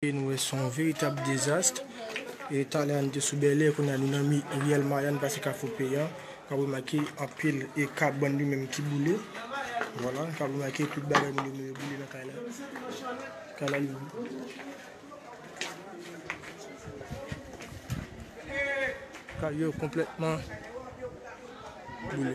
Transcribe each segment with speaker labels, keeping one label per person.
Speaker 1: E nou wè son veritab dezast. E talè an te sou bèlè kounya nou nan mi riyèl mayann pase kafou peyan. Kap remake anpil e kap bann li menm ki boule. Vwala kap remake tout bagay moun yo mwen yo boule nan kay la. Kay la li Kay yo konplètman boule.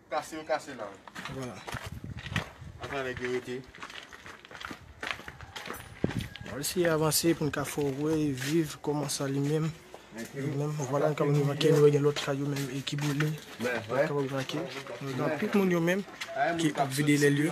Speaker 2: Kase yo kase la wi. Vwala. Ata nèg yo rete.
Speaker 1: Bon esi avanse pou n ka fè w wè e viv kòman sa li menm. Li menm. Vwala n kab rive vake nou wè gen lòt kay yo menm e ki boule. N kab vake. Anpil moun yo menm ki ap vide lèl yo.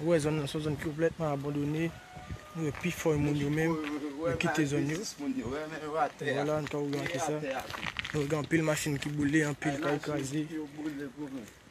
Speaker 1: Ou wè zòn nan son zòn konplètman abandone, ou wè pi fò moun yo menm, yo kite zòn yo. Wala anka ou gade sa. Ou gade anpil machin ki boule, anpil kay kraze.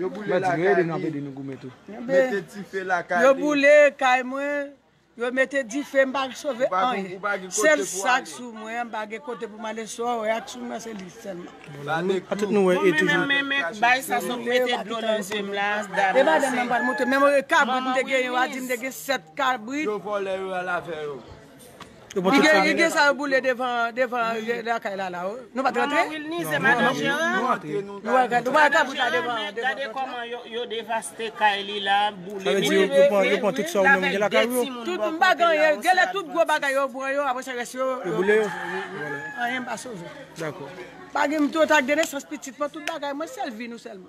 Speaker 3: Yo boule
Speaker 2: lakay li. Yo boule kay
Speaker 4: mwen. Yo mete dife m pa k sove anyen. Sèl sak sou mwen m pa gen kote pou m ale sou a wè ak sou mwen se li sèlman. Menm kabrit m te gen yo a di m te gen 7 kabrit. Li gen sa yo boule devan lakay lala wi. Nou pat rantre?
Speaker 5: Nou wè kabrit la devan an.
Speaker 4: Gade koman yo
Speaker 5: devaste kay li la, boule li. Yo
Speaker 1: pran tout sa ou menm gen lakay ou yo? Tout m pa gen anyen.
Speaker 4: Genlè tout gwo bagay yo pran yo apresa rès yo. Yo boule yo?
Speaker 1: Anyen pa
Speaker 4: sove. Dako. Pa
Speaker 1: gen m tou tak
Speaker 4: de nesans pitit mwen tout bagay mwen sèl vi nou sèlman.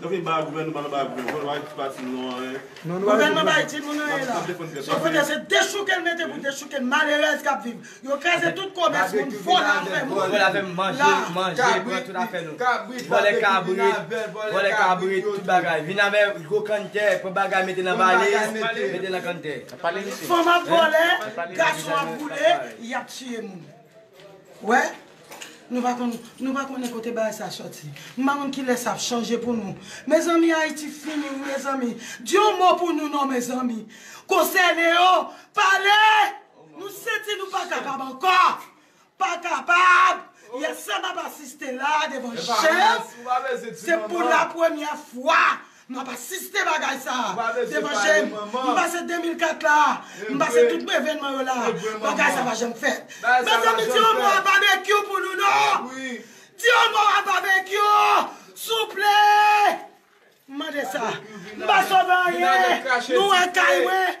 Speaker 4: Gouvenman bay jim moun anyen. Gouvenman bay jim moun anyen la. Son kote se dechouke l mete pou dechouke malerèz kap viv. Yo kraze tout komès moun vòlè afè moun. Vòlè afè moun manje
Speaker 6: manje pran tout afè nou. Vòlè kabrit vòlè kabrit tout bagay vin avè gwo kanntè pran bagay mete nan valiz mete nan kanntè. Fanm ap
Speaker 4: vòlè gason ap boule yap tiye moun. Wè? Nou pa konn, nou pa konnen kote bagay sa sòti. M pa konn kilè sa ap chanje pou nou. Mezanmi Ayiti fini wi mezanmi. Di yon mo pou nou non mezanmi. Konsène yo, pale! Nou santi nou pa kapab ankò. Pa kapab! Yè sa m ap asiste la devan je m, se pou la premyè fwa M ap asiste bagay sa a devan je m. M pase 2004 la a. M pase tout evenman yo la a. Bagay sa a pa janm fèt. Mezanmi di yon mo a Babekyou pou nou non! Di yon mo a Babekyou! Souple! M mande sa. M pa sove anyen. Nou wè kay mwen.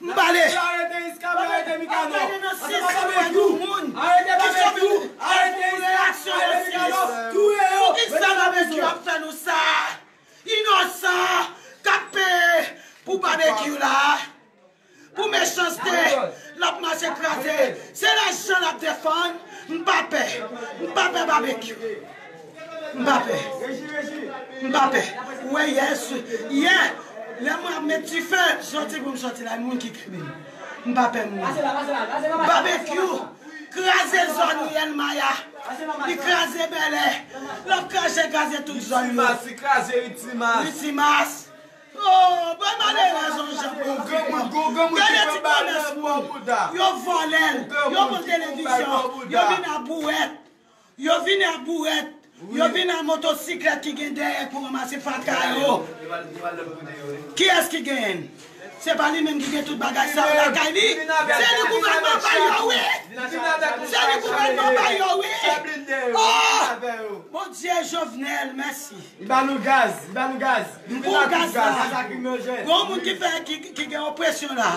Speaker 4: M pale! Arete iska mwen arete mikano Arete nan 6 kouwè nou moun Arete babekyou Arete iska Arete mikano Touye yo Poukisa babekyou ap fè nou sa Inosan kap peye Pou babekyou la Pou mechanste Lap mache kraze Se lajan lap defann M pa pè M pa pè babekyou. M pa pè. M pa pè. Ou wè yè sou. Yè lè mwen ap met dife soti pou m soti la moun ki kenbe m. M pa pè moun. Babekyou kraze zòn Riel Maya. Li kraze Bèlè. L ap kraze kraze tout zòn yo. Li kraze Ritimas. Ritimas. Ooh bay malerèz on jan pou fi pran. Gade ti komès moun. Yo vòlè l. Yo pran televizyon. Yo vin a bouwèt. Yo vini a bourèt, yo vini a motosiklèt ki gen dèyè pou ranmase fatra yo. Kiyès ki genyen l? Se pa li menm ki gen tout bagay sa yo lakay li? Se li gouvènman bay yo wi! Se li gouvènman bay yo wi! Oh! Bondye Jovenel mèsi. Li ba nou gaz,
Speaker 6: li ba nou gaz. M pou w gaz la.
Speaker 4: Gon moun ki gen opresyon la.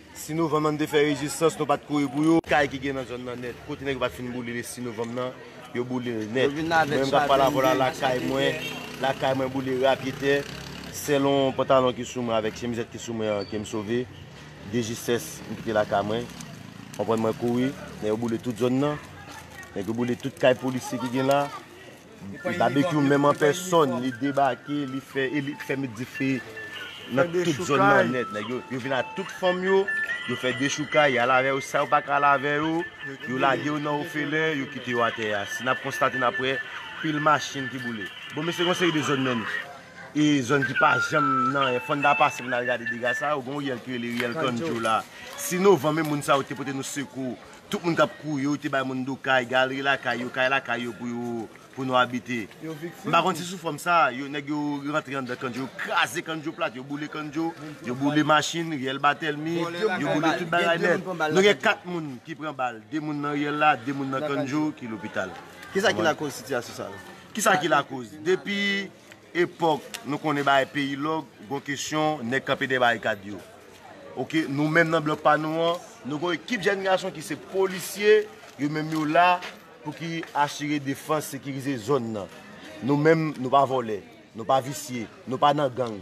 Speaker 7: 6 novanm lan n te fè rezistans nou pat kouri pou yo. Kay ki gen nan zòn nan nèt kote nèg yo pat fin boule le 6 novanm nan yo boule l nèt mwen menm kap pale avèw la lakay mwen lakay mwen boule ra pye tè sèlon pantalon ki sou mwen avèk chemizèt ki sou mwen an kem sove de jistès m kite lakay mwen konprann mwen kouri lè yo boule tout zòn nan nèg yo boule tout kay polisye ki gen la Babekyou menm an pèsòn li debake li fè e li fè met dife nan tout zòn nan nèt nèg yo yo vin ak tout fanm yo yo fè dechoukay yal avè yo sa yo paka al avè yo yo lage yo nan ofelen yo kite yo atè a si nap konstate nap wè pil machin ki boule bon mesye gon seri de zòn menm e zòn ki pa janm nan e fòn ta pase pou nal gade dega sa yo gon riyèl ki rele riyèl kandjo la si novanm e moun sa yo te pote nou sekou Tout moun kap kouri yo te bay moun do kay, galeri lakay yo, kay lakay yo pou yo pou nou abite. M pa konn si sou fòm sa a, yo nèg yo rantre anndan Kandjo, yo kraze Kandjo plat, yo boule Kandjo, yo boule machin, riyèl Batelmi, yo boule tout bagay nèt. Nou gen 4 moun ki pran bal, 2 moun nan riyèl la, 2 moun nan Kandjo ki lopital. Kisa ki lakoz sitiyasyon sa yo? Kisa ki lakoz? Depi Epòk nou konnen bagay peyi lòk, gon kesyon nèg kanpe dèyè barikad yo. Ok, nou menm nan blòk pa nou an, nou gon ekip jèn gason ki se polisye, yo menm yo la pou ki asire defans, sekirize zòn nan. Nou menm nou pa vòlè, nou pa visye, nou pa nan gang.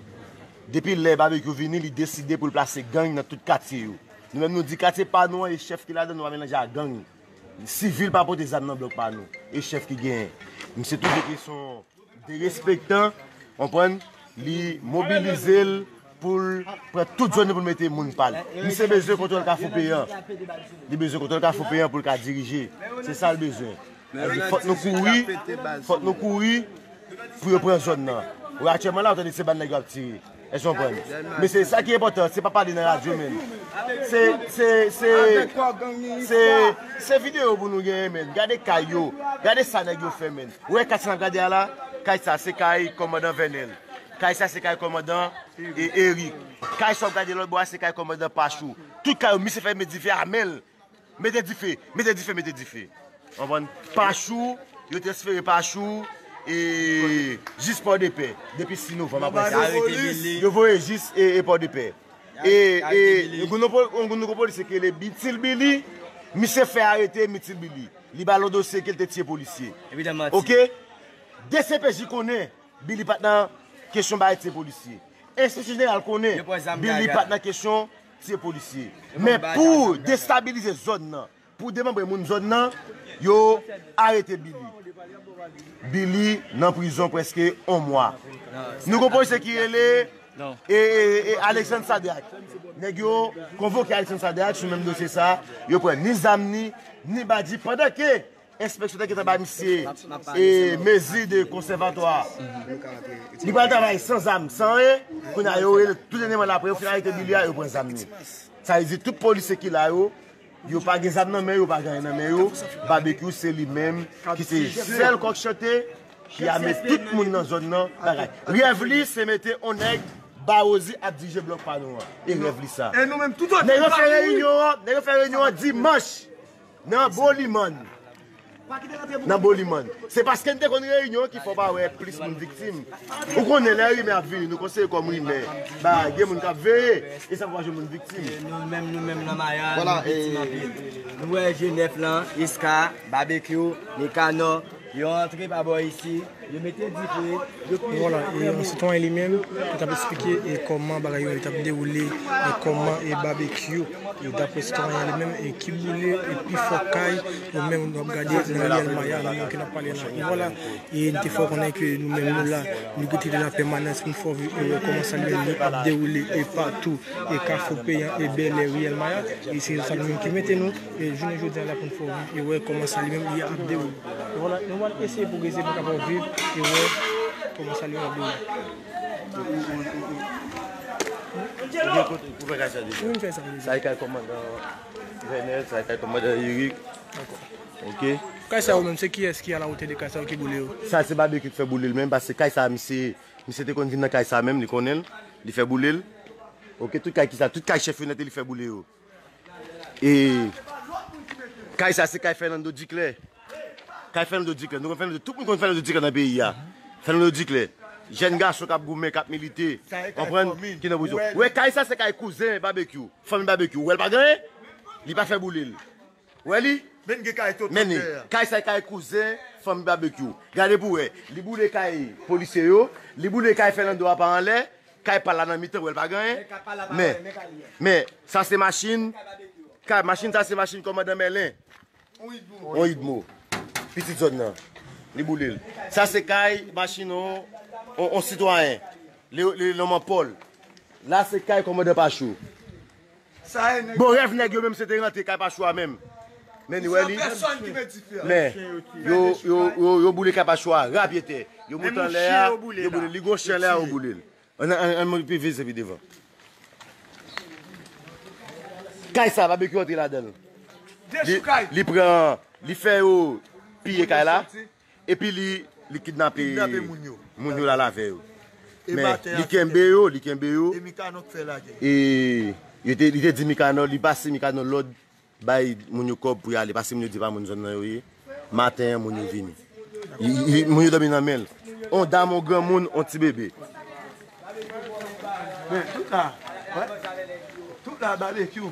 Speaker 7: Depi lè Babekyou vini, li deside pou l plase gang nan tout katye yo. Nou menm nou di katye pa nou an e chèf ki ladan nou pa melanje a gang. Sivil pa pote zam nan blòk pa nou, e chèf ki genyen. Misye toujou te son. derespektan, konprann, li mobilize l pou l pran tout zòn yo pou l mete moun pa l. Misye bezwen kontwòl Kafou Peyan. Li bezwen kontwòl Kafou Peyan pou l ka dirije. Se sa l bezwen. Epi fòk nou kouri, fòk nou kouri pou yo pran zòn nan. Wè aktyèlman la, w tande se ba nèg yo ap tire. Èske w konprann? Men se sa ki enpòtan an, se pa pale nan radyo men. Se, se, se, se, se videyo pou nou genyen men. Gade kay yo, gade sa nèg yo fè men. Ou wè kay sa n ap gade a la? Kay sa se kay kòmandan Vènèl. Kay sa se kay kòmandan Erik. Kay sa w ap gade lòt bò a se kay kòmandan Pachou. Tout kay yo misye fè met dife a men l, Mete dife! Mete dife! Mete dife! Konprann? Pachou, yo te espere Pachou e jis Pòdepè depi 6 novanm aprè sa. Yo voye jis Pòdepè. E yon nouvo polisye ki rele Bitil Bili, misye fè arete Mitil Bili. Li ba l yon dosye ke l te tiye polisye. Ok? Dcpj konnen Bili pa t nan kesyon bay tiye polisye. Enspeksyon Jeneral konnen Bili pa t nan kesyon. tiye polisye men pou destabilize zòn nan pou demanbre moun zòn nan yo arete Billy Billy nan prizon preske on mwa nou gon polisye ki rele ee Alexandre Sadrac nèg yo konvoke Alexandre Sadrac sou menm dosye sa yo pran ni zam ni ni badi pandan ke Enspeksyon te gentan bay misye mezi de konsèvatwa. Li pral travay san zam, san anyen. Kounye a yo rele tou dènyèman la apre yo fin arete Billy a, yo pran zam li. Sa vle di tout polisye ki la yo, yo pa gen zam nan men yo, yo pa gen anyen nan men yo. Babekyou se li menm ki se sèl kòk chante ki ame tout moun nan zòn nan bagay. Rèv li se mete on nèg Bahozy ap dirije blòk pa nou an. E rèv li sa. Nèg yo fè reyinyon an, nèg yo fè reyinyon an dimanch. Nan Bolimann Nan Bolimann Se paske n te konn reyinyon ki fè w pa wè plis moun viktim Ou konnen lè rimè ap vini nou konsidere kòm rimè ba gen moun k ap veye e sa pou pa jwenn moun viktim E nou menm nou menm nan
Speaker 6: Maya nou viktim anpil Nou wè Jenèf lan Iska Babekyou Mikanò Yo antre pa bò isi, yo mete dife, yo pije aprè moun. Vwala, e sitwayen
Speaker 1: li menm ki tap esplike e kòman bagay yo tap dewoule e kòman e babekyou e daprè sitwayen an li menm e ki boule e pi fò kay yo menm nou ap gade nan riyèl maya nou menm ke nap pale la e vwala e nou te fè w konnen ke nou menm nou la nou rete de la pèmanans pou nou fè w viv e wè kòman sa li menm li ap dewoule e patou e kafou peyan e bèlè riyèl maya e se sa nou menm ki mete nou. E jounen jodi a la pou n fè w viv e wè kòman sa li menm li ap dewoule. Nou
Speaker 7: pral
Speaker 1: eseye pwogrese pou
Speaker 7: n kapab viv e wè kòman sa li menm ap dewoule. E kay sa se kay Fernando Duclair. Kay Fernando Duclair. Nou kon Fernando, tout moun kon Fernando Duclair nan peyi a. Fernando Duclair. Jèn gason kap goumen, kap milite. Konprann? Ki nan prizon. Ou wè kay sa se kay kouzen Babekyou. Fanmi Babekyou. Ou wèl pa genyen? Li pa fè boulel. Wè li Menn li Kay sa kay kouzen fanmi Babekyou Gade pou wè Li boule kay polisye yo Li boule kay Fernando a pa anlè Kay pal la nan mitan wèl pa gen anyen Men Men Sa se machin Kay machin sa se machin kòmandan Mèlen On idmo Pitit zòn nan Li boule l Sa se kay machin on On sitwayen Li li nonm an Pòl La se kay kòmandan Pachou. Bon rèv nèg yo menm se te rantre kay Pachou a menm men ni wè li men yo boule kay Pachou a rapyetè yo moute anlè a yo boule l li gon chen anlè a yo boule l ann mwen pi vise pi devan kay sa babekyou antre ladan l li pran li fè yo piye kay la. Epi li kidnape moun yo la lave yo. Men li kenbe yo, li kenbe yo. E li te di Mikanò, li pase Mikanò lòd bay moun yo kòb pou yale. Pase moun yo di pa moun zòn nan yo ye. Maten moun yo vini. Moun yo domi nan menl. On dam, on gran moun, on ti bebe.
Speaker 8: Men tout la, tout la babekyou.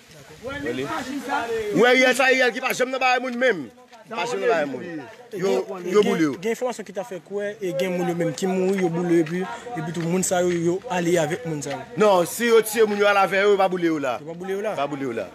Speaker 7: Gen enfòmasyon ki ta fè
Speaker 1: kwè gen moun yo menm ki mouri, yo boule yo epitou moun sa yo, yo ale avèk moun sa yo. Non, si yo tiye
Speaker 7: moun yo ale avè yo, yo pa boule yo la. Yo pa boule yo la? Yo pa boule yo la.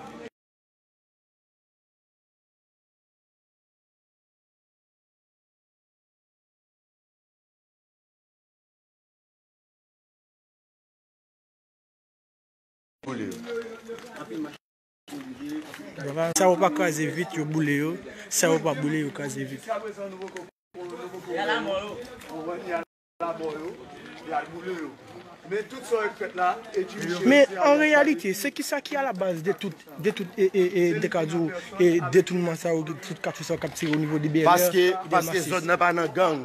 Speaker 1: Sa yo pa kraze vit yo boule yo, sa yo pa boule yo kraze vit. Men an reyalite, se kisa ki alabaz de tout detounman sa yo, de tout kafe sa yo k ap tire o nivo de Bèlè?
Speaker 7: Paske zòn nan pa nan gang.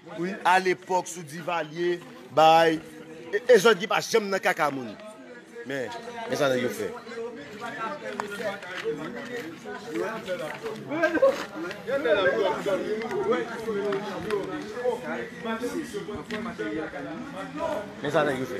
Speaker 7: Wi a lepok sou Divalye bay e jòdgi pa janm nan kaka moun men men sa nèg yo fè. Men sa nèg yo fè.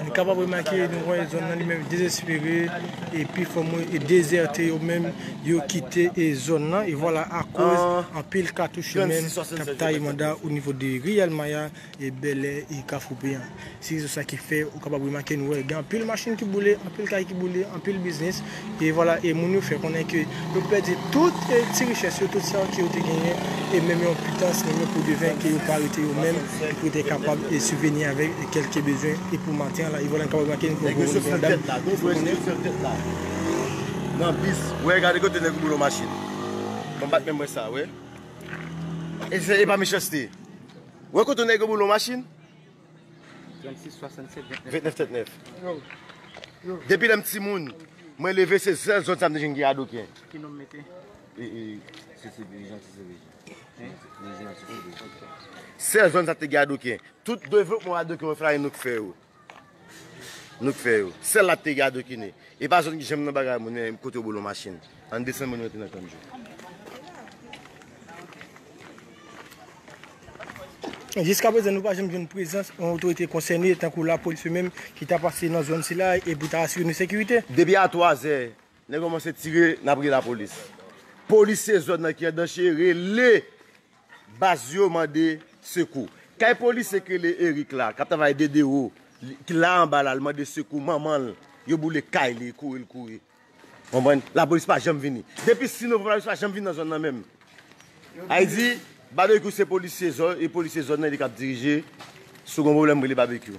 Speaker 7: Nou
Speaker 1: kapab remake nou wè zòn nan li menm dezespere e pi fò moun e dezète yo menm yo kite e zòn nan e vwala akoz anpil katouch yo menm kap taye manda o nivo de Riyal Maya. e Bèlè e Kafou-Peyan. Se rezon sa ki fè ou kapab remake nou wè gen anpil machin ki boule, anpil kay ki boule, anpil biznis e vwala e moun yo fè konnen ke yo pèdi tout ti richès yo, tout sa ke yo te genyen e menm yon pitans, menm yon podevin ke yo pa rete yo menm e pou yo te kapab e sibveni avèk kèlke bezwen e pou maten an la e vwala nou kapab remake nou wè gen yon
Speaker 7: dam ki fè konnen. Wè kote nèg yo boule yon machin.
Speaker 9: 36 67 29 39 39
Speaker 7: Depi lèm ti moun Mwen leve se sèl zòn sa mwen te jwenn gen adoken Ki nom mete? Sèl zòn sa te gen adoken Tout devlopman adoken yo fè la e nou k fè yo Nou t fè yo. Sèl la t te gade okine. E pa zòn ki janm nan bagay moun e kote yo boule yon machin. Ann desann moun rantre nan kan djo.
Speaker 1: Jiska prezan nou pa janm jwenn prezans yon otorite konsène tankou lapolis yo menm ki ta pase nan zòn sila e pou ta asire nou sekirite. Depi a 3 zè,
Speaker 7: nèg yo kòmanse tire, n ap rele lapolis. Polisye zòn nan ki andanche rele Baz yo mande sekou. Kay polisye k rele Erick la kap travay DDO ki la anba la li mande sekou manman l yo boule kay li kouri l kouri konprann lapolis pa janm vini depi 6 novanm lapolis pa janm vini nan zòn nan menm Ayiti babekyou se polisye zòn e polisye zòn nan li kap dirije sou gon pwoblèm rele babekyou.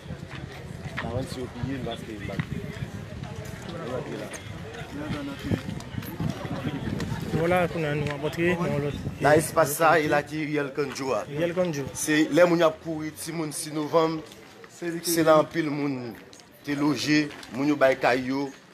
Speaker 1: Nan espas sa e
Speaker 7: la ki Riyèl Kandjo a. Se
Speaker 1: lè moun yo ap kouri
Speaker 7: timoun 6 novanm, se la anpil moun te loje, moun yo bay kay yo.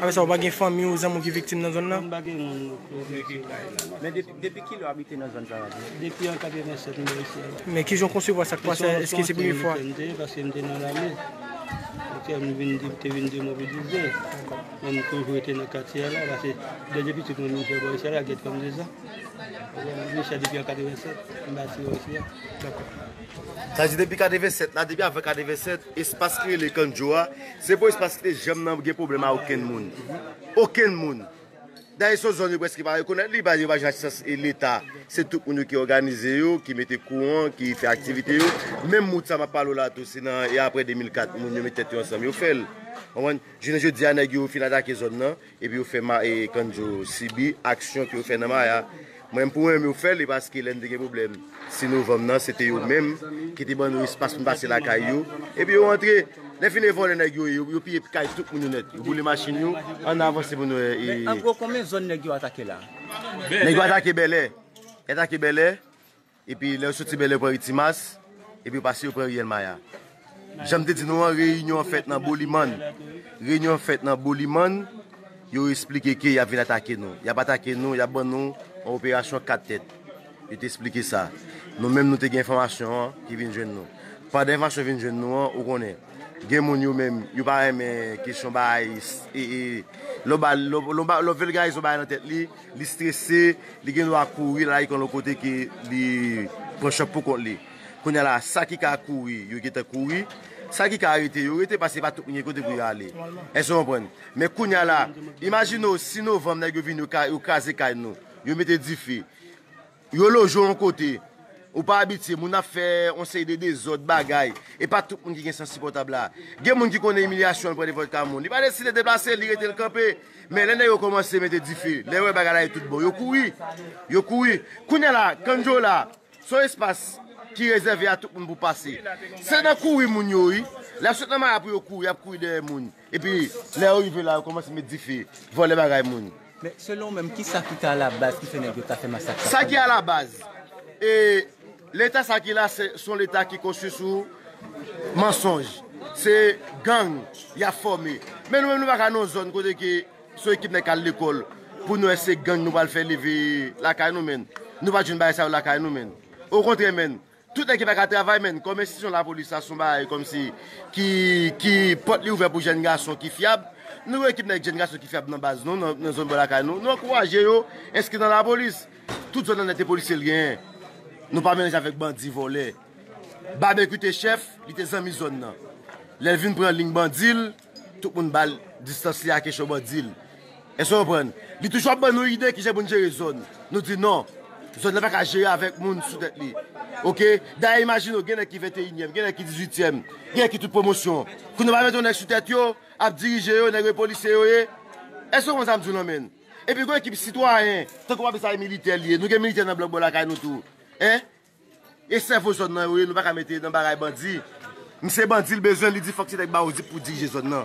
Speaker 1: Apre sa, ou pa gen fanmi ou zanmi ou ki viktim nan zòn nan?
Speaker 9: Men kijan
Speaker 1: ou konsevwa sa k pase a?
Speaker 9: Eske se premye fwa? Dakò.
Speaker 1: Sa
Speaker 7: vle di depi 87 la, depi avan 87, espas ki rele Kandjo a, se pou espas ki te janm nan gen pwoblèm a okenn moun. Okenn moun. Dayè son zòn yo prèske pa rekonèt li, yo pa jwenn asistans leta. Se tout moun yo ki òganize yo, ki mete kouran, ki fè aktivite yo. Menm wout sa m ap pale w la tou, se nan e aprè 2004 moun yo met tèt yo ansanm yo fè l. Jounen jodi a nèg yo fin atake zòn nan. Epi yo fè ma e kandjo sibi aksyon ke yo fè nan maya mwen pou mwen menm yo fè li paske lè nou te gen pwoblèm 6 novanm nan se te yo menm ki te ban nou espas pou nou pase lakay yo epi yo antre lè fini e vòlè nèg yo ye yo piye kay tout moun yo nèt yo boule machin yo ann avanse pou nou e men an gwo konbyen zòn
Speaker 6: nèg yo atake la nèg yo atake
Speaker 7: bèlè yo atake bèlè. Epi lè yo soti Bèlè yo pran ri Timas, epi yo pase yo pran riyèl Maya. Janm te di nou an reyinyon an fèt nan Bolimann. Reyinyon an fèt nan Bolimann, yo esplike ke yap vin atake nou. Yap atake nou, yap ban nou yon operasyon 4 tèt. Yo te esplike sa. Nou menm nou te gen enfòmasyon an ki vin jwenn nou. Pandan enfòmasyon vin jwenn nou an, ou konnen, gen moun yo menm, yo pa renmen kesyon bay, lè ou vèlgarize yon bagay nan tèt li, Li strese, li gen dwa kouri lal yon lòt kote ke li pran chòk pou kont li. Kounya la, sa ki ka kouri, yo gentan kouri. Sa ki ka rete, yo rete paske pa tout moun gen kote pou yo ale. Èske ou konprann? Men kounya la, imajine w si novanm nèg yo vini yo kraze kay nou, yo mete dife. Yo loje w yon kote ou pa abitye, moun ap fè yon seri de dezòd, bagay. E pa tout moun ki gen sans sipòtab la. Gen moun ki konnen imilyasyon pran de vòdka moun. Li pa deside deplase l, li rete l kanpe. Men lè nèg yo kòmanse mete dife, lè yo wè bagay la ye tout bon, yo kouri. Yo kouri. Kounye a la, Kandjo la, se yon espas ki rezève a tout moun pou pase. Se nan kouri moun yo wi. Lè y ap sot nan maya pou yo kouri, y ap kouri dèyè moun. Epi, lè yo rive la, yo kòmanse met dife, vòlè bagay moun. Men, selon ou menm, ki
Speaker 6: sa ki ka alabaz ki fè nèg yo ta fè masak sa? Sa ki alabaz?
Speaker 7: E, Leta sa ki la, se yon Leta ki konstwi sou mansonj. Se gang y ap fòme. Men nou menm nou pa ka nan yon zòn kote ke se yon ekip nèg k al lekòl pou nou wè se gang nou pral fè leve lakay nou menn. Nou pa t jwenn bagay sa yo lakay nou menn. Okontrè menn, Tout nèg ki pa ka travay menn kòm enstitisyon lapolis sa son bagay kòmsi ki pòt li ouvè pou jèn gason ki fyab nou gen ekip nèg jèn gason ki fyab nan baz nou nan zòn bò lakay nou nou ankouraje yo enskri nan lapolis tout zòn annette polisye l genyen nou pa melanje avèk bandi vòlè babekyou te chèf li te zanmi zòn nan lèl vin pran ling bandi l. Tout moun ba l distans li a kesyon mwen di l. Èske w konprann? Li toujou ap ban nou ide kijan pou n jere zòn. Nou di non. Zòn nan pa ka jere avèk moun sou tèt li. Oke? Dayè imajine w gen nèg ki venteyinyèm, gen nèg ki dizuityèm, gen nèg ki tout pwomosyon. Kounye a w pa mete yon nèg sou tèt yo, ap dirije yo, nèg yo polisye yo ye. Èske w konprann sa m di w lan menn? Epi gen yon ekip sitwayen, tankou w ap di sa e militè li ye. Nou gen militè nan blòk bò lakay nou tou. Hein? E sèvo zòn nan yo ye nou paka mete nan bagay bandi. M se bandi l bezwen li di fòk ti nèg ba odip pou dirije zòn nan.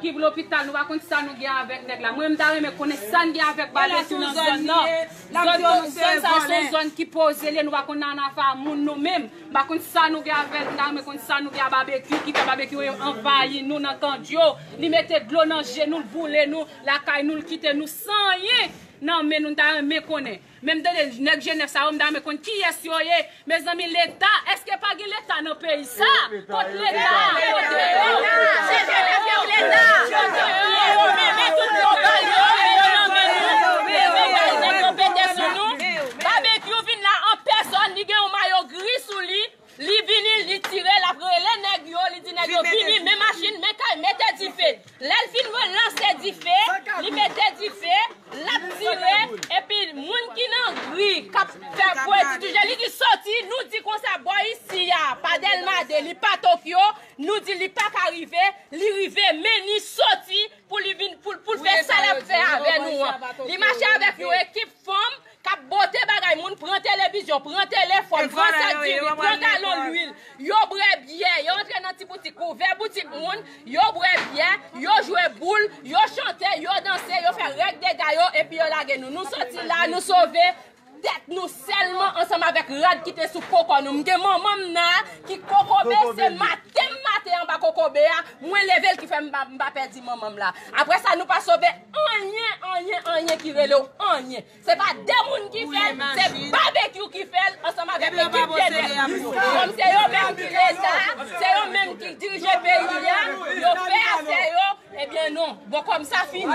Speaker 10: Kip lopital nou pa konn sa nou gen avèk nèg la mwen mta renmen konnen sa n gen avèk bale tou nan zòn nan zòn sa a son zòn ki poze li ye nou pa konn nan afa moun nou menm mpa konn sa nou gen avèl mta renmen konn sa nou gen a babekyou ki fè babekyou anvayi nou nan kandjo li mete dlo nan je nou l boule nou lakay nou l kite nou san anyen nan men nou mta renmen konnen. Men m tande nèg jenès sa yo m ta renmen konn kiyès yo ye mezanmi leta eske pa gen leta nan peyi sa kot leta kote yo se vye mesye yo leta kote yo se yo menm men tout global yo men yo nan men nou men yo bay zèk yo pete sou nou babekyou vin la an pèsòn li gen yon mayo gri sou li. Li vini, li tire, l ap rele nèg yo, li di nèg yo vini, men machin, men kay, mete dife. Lè l fin relanse dife, li mete dife, l ap tire, epi moun ki nan ri, k ap fè bwe di tou je, li di soti, nou di konsa bò isi a, pa Dèlma 2, li pa Tokyo, nou di li pa ka rive, li rive, men li soti pou li vin, pou l fè sa l ap fè avè nou an. Li mache avèk yon ekip fanm. kap bote bagay moun pran televizyon, pran telefòn, pran sak diri, pran galon lwil, yo bwè byè, yo antre nan ti boutik, ouvè boutik moun, yo bwè byè, yo jwe boul, yo chante, yo danse, yo fè règ dega yo epi yo lage nou. Nou soti la, nou sove tèt nou sèlman ansanm avèk rad ki te sou po kò nou. M gen manman m nan ki kokobe, se maten m maten anba kokobe a, mwen leve l ki fè m pa pèdi manman m la. Apre sa nou pa sove anyen anyen anyen ki rele w anyen. Se pa de moun ki fè l, se Babekyou ki fè l ansanm avèk ekip Dener li yo. Kòm se yo menm ki leta, se yo menm ki dirije peyi a, yo fè afè yo, ebyen non. Bon kòm sa fini.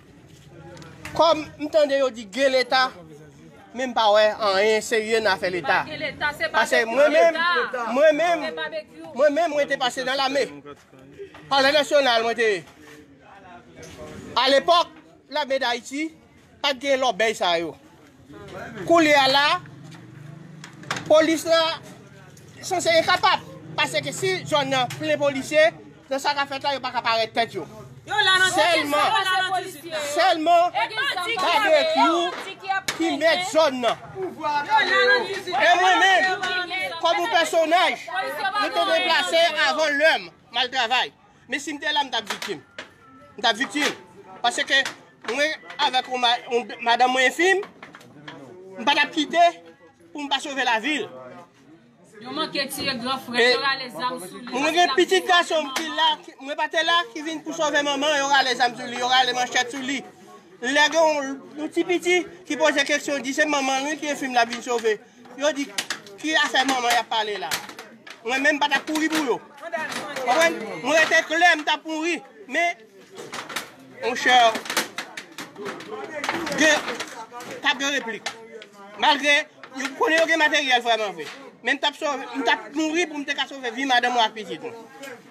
Speaker 11: Kom m tande yo di gen leta men m pa wè anyen serye nan afè leta. Pase mwen menm, mwen menm, mwen menm mwen te pase nan lame. Palè nasyonal mwen te ye. A lepok lame dayiti pat gen lobey sa yo. Koulye a la, polis la sanse e kapab. Pase ke si zòn nan plen polisye, nan sa ka fèt la yo pa ka parèt tèt yo. Sèlman, sèlman babekyou ki mèt zòn nan. E mwen menm, kòm yon pèsonaj, mwen te deplase avan lè m, m al travay. Men si m te la m tap viktim. M tap viktim. Pase ke mwen avèk yon madan mwen enfim, m pa tap kite pou m pa sove la vil. Yo
Speaker 10: manke tiye gran frè, yo rale zam sou li. Mwen gen pitit gason m
Speaker 11: ki la, mwen pa te la, ki vin pou sove manman, yo rale zam sou li, yo rale manchèt sou li. Lè gen yon ti piti ki poze keksyon di se manman li ki enfim la vin sove. Yo di ki afè manman yap pale la mwen menm patap kouri pou yo konprann mwen rete klè m tap mouri men monchè gen pa gen replik malgre yo konnen yo gen materyèl vrèman vre men m tap sove m tap mouri pou m te ka sove vi madanm mwen ak pitit mwen.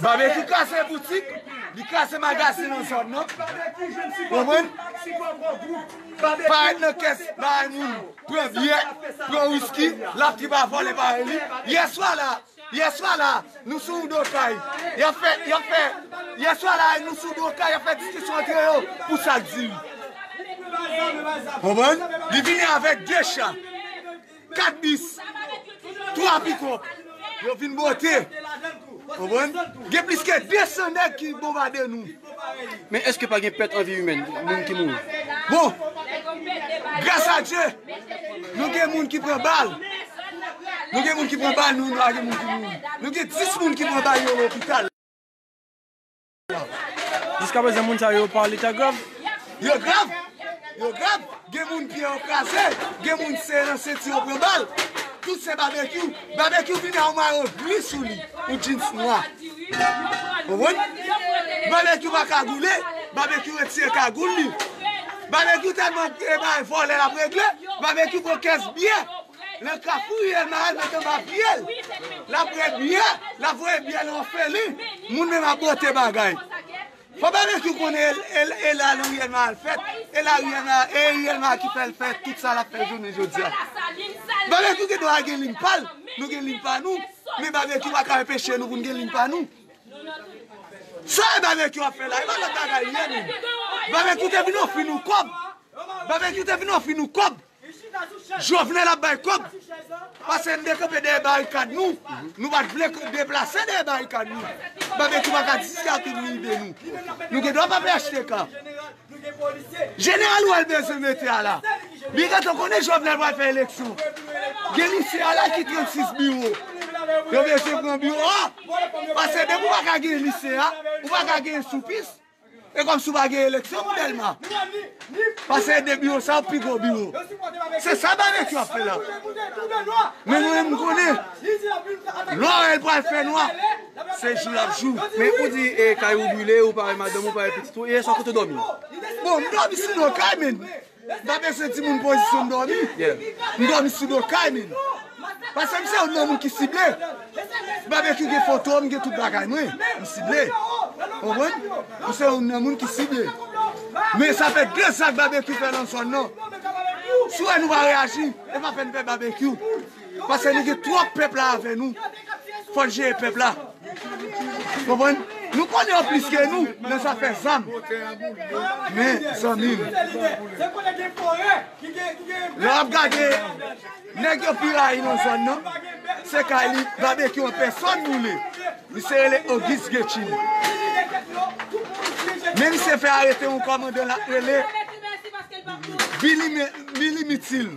Speaker 8: Babecue kraze boutik, li kraze magazin nan zòn nan, konprann, parèt nan kès bagay moun, pran byè, pran wiski, lap di pa vòlè bagay li, yè swa la, yè swa la, nou sou yon do kay, yap fè, yap fè, yè swa la nou sou do kay yap fè diskisyon antre yo pou sak di li. Konprann, li vini avèk 2 cha. 4 bis, 3 pikòp, yo vin bote, konprann, gen plis ke 200 nèg ki bonbade nou. Men eske
Speaker 6: pa gen pèt an vi imèn, moun ki mouri? Bon,
Speaker 8: gras a Dye, nou gen moun ki pran bal, nou gen moun ki pran bal, nou gen moun ki mouri. Nou gen 10 moun ki pran bal yo lopital.
Speaker 1: Jiska prezan moun sa yo pa leta grav. Yo grav!
Speaker 8: Yo grav! Gen moun pye yo kraze, gen moun sere nan senti yo pran bal. Tout se Babekyou. Babekyou vini a yon mayo gri sou li, yon jeans nwa. Konprann? Babekyou pa kagoule, Babekyou retire kagoul li. Babekyou tèlman vòlè l ap regle, Babekyou pran kès biyè. Nan kafou ye Mael met anba pyel lap ret byen lap voye byen nan ofelin moun menm ap bote bagay fò barbecue ou konnen e la ariel mael fèt e la ariel mael ki fèl fè tout sa lap fè jounen jodia barbecue gen dwa gen liy pal nou gen liy pa nou men barbecue paka enpeche nou poun gen liy pa nou sa e barbecue ap fè la e pa lòt bagay li ye menm barbecue te vin ofri nou kòb barbecue te vin ofri nou kòb Jovenel ap bay kob pase n dekanpe dèyè barikad nou nou pat vle deplase dèyè barikad nou babecue paka di sa tout nou ide nou nou gen dwa pa phtk jeneral ou al bezwen mete a la li gentan konnen jovenel pral fè eleksyon gen misye a la ki 36 biwo yo bezwen pran biwo a pase depi ou paka gen misye a ou paka gen soufis. E kòmsi ou pa gen eleksyon pou Dèlma? Pase e de biwo sa yo pi gwo biwo. Se sa Babekyou ap fè la. Men mwen menm m konnen, lò wè l pral fè nwa, se jou l ap jou. Men ou di e
Speaker 6: kay ou brile, ou pa wè madanm ou, ou pa wè pitit ou, yè swa kote w dòmi? Bon, m dòmi
Speaker 8: sou do kay men. Mpa bezwen di moun pozisyon m dòmi. M dòmi sou do kay min. Pase m se youn nan moun ki sible. Babekyou gen foto m, gen tout bagay mwen. M sible. Konprann? M se youn nan moun ki sible. Men sa fè 2 zak babekyou fè nan zòn nan. Si w wè nou pa reyaji, e pa pè n pè babekyou. Paske nou gen twòp pèp la avè nou. Fòn jere pèp la. Konprann? Nou konnen yo plis ke nou nan zafè zam. Men zanmi m. Lè wap gade nèg yo pi rayi nan zòn nan. Se kay li babekyou an pèsòn boule. Misye rele Auguste Guetchine. Men misye fè arete yon kòmandan la rele Billy Mithil.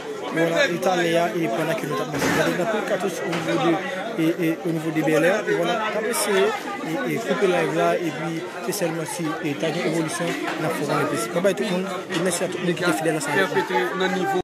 Speaker 1: Bon la e talè a e pandan ke nou tap mache gade gen anpil katouch o nivo de e o nivo de Bèlè e bon la tap eseye e e koupe live la e pi se sèlman si e ta gen evolisyon nap fè w konnen plis. Babay tout moun e mèsi a tout moun ki te fidèl ansanm avèk nou.